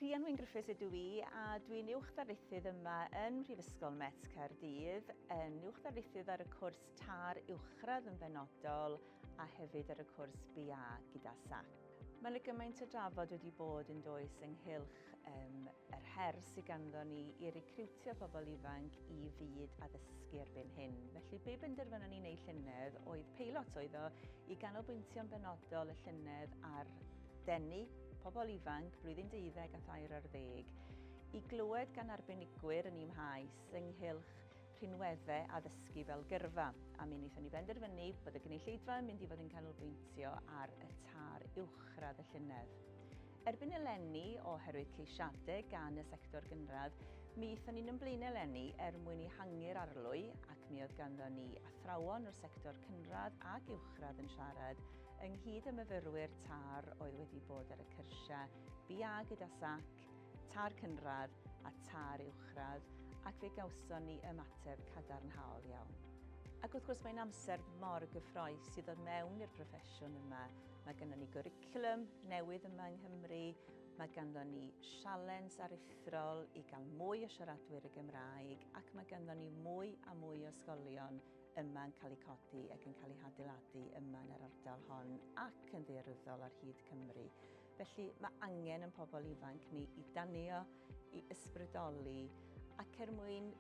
Rhian Wyn Griffiths ydw i a dwi'n Uwch Ddarlithydd yma yn Mhrifysgol Met Caerdydd, yn Uwch Ddarlithydd ar y cwrs TAR Uwchradd yn benodol a hefyd ar y cwrs BA gyda SACP. Mae yna gymaint o drafod wedi bod yn does ynghylch um, yr her sydd ganddo ni i recriwtio pobl ifanc i fyd addysgu erbyn hyn. Felly be benderfynon ni'n ei llynedd oedd peilot oedd o i ganolbwyntio'n benodol y llynedd ar denu pobl ifanc blwyddyn deuddeg a thair ar ddeg i glywed gan arbenigwyr yn imhaes ynghylch rhinweddau addysgu fel gyrfa, a mi wnaethon ni benderfynu bod y gynulleidfa yn mynd i fod yn canolbwyntio ar y tar uwchradd y llynedd. Erbyn eleni, oherwydd ceisiadau gan y sector gynradd, mi aethon ni'n ymlaen eleni er mwyn i hangu'r arlwy ac mi oedd ganddo ni athrawon o'r sector cynradd ac uwchradd yn siarad Ynghyd â myfyrwyr TARR oedd wedi bod ar y cyrsiau BA gyda sac, TARR Cynradd a TARR Uwchradd ac fe gawson ni ymateb cadarnhaol iawn. Ac wrth gwrs mae'n amser mor gyffroes i ddod mewn i'r proffesiwn yma. Mae ganddo ni gwricwlwm newydd yma yng Nghymru, mae ganddo ni sialens aruthrol i gael mwy o siaradwyr y Gymraeg ac mae ganddo ni mwy a mwy o ysgolion yma yn cael eu codi ac yn cael eu hadeiladu yma yn yr ardal hon ac yn ddearwyddol ar hyd Cymru. Felly mae angen yn pobl ifanc ni i danio, i ysbrydoli ac er mwyn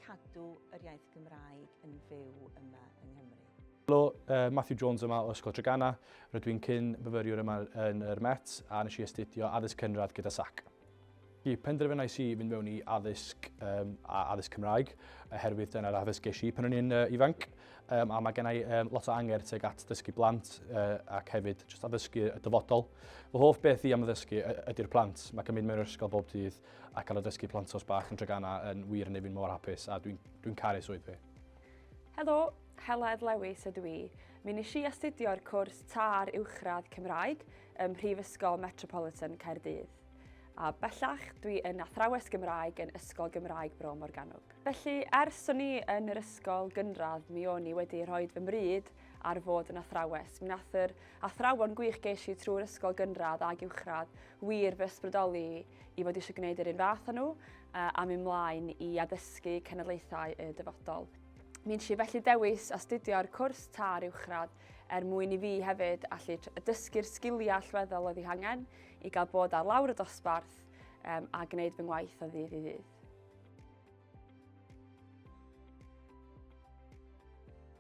cadw yr iaith Gymraeg yn fyw yma yng Nghymru. Helo, uh, Matthew Jones yma o Ysgol Trygana. Rydw i'n cyn myfyriwr yma yn yr Met a nes i astudio addysg cynradd gyda SAC. Y penderfynais i fynd mewn i addysg um, a addysg Cymraeg, oherwydd dyna'r addysg geis i pan o'n i'n uh, ifanc, um, a mae gennau um, lot o anger teg at dysgu blant uh, ac hefyd just addysgu y dyfodol. Fy hoff beth i am addysgu ydy'r plant. Mae cymryd mewn ysgol bob dydd a cael addysgu plant os bach yn dragana yn wir yn ei fi'n mor hapus a dwi'n dwi, caru swydd fi. Helo, Heledd Lewis ydw i. Mi nes i astudio'r cwrs TAR Uwchradd Cymraeg, ym Mhrifysgol Metropolitan Caerdydd. A bellach, dwi yn athrawes Gymraeg yn Ysgol Gymraeg Bro Morgannwg. Felly, ers o'n i yn yr ysgol gynradd, mi o'n i wedi rhoi fy mryd ar fod yn athrawes. Mi nath yr athrawon gwych geis i trwy'r ysgol gynradd ac uwchradd wir fy ysbrydoli i fod eisiau gwneud yr un fath â nhw a mi mlaen i addysgu cenedlaethau y dyfodol. Mi nes i felly dewis astudio'r cwrs târ uwchradd er mwyn i fi hefyd allu dysgu'r sgiliau allweddol oedd ei hangen i gael bod ar lawr y dosbarth um, a gwneud fy ngwaith o ddydd i ddydd.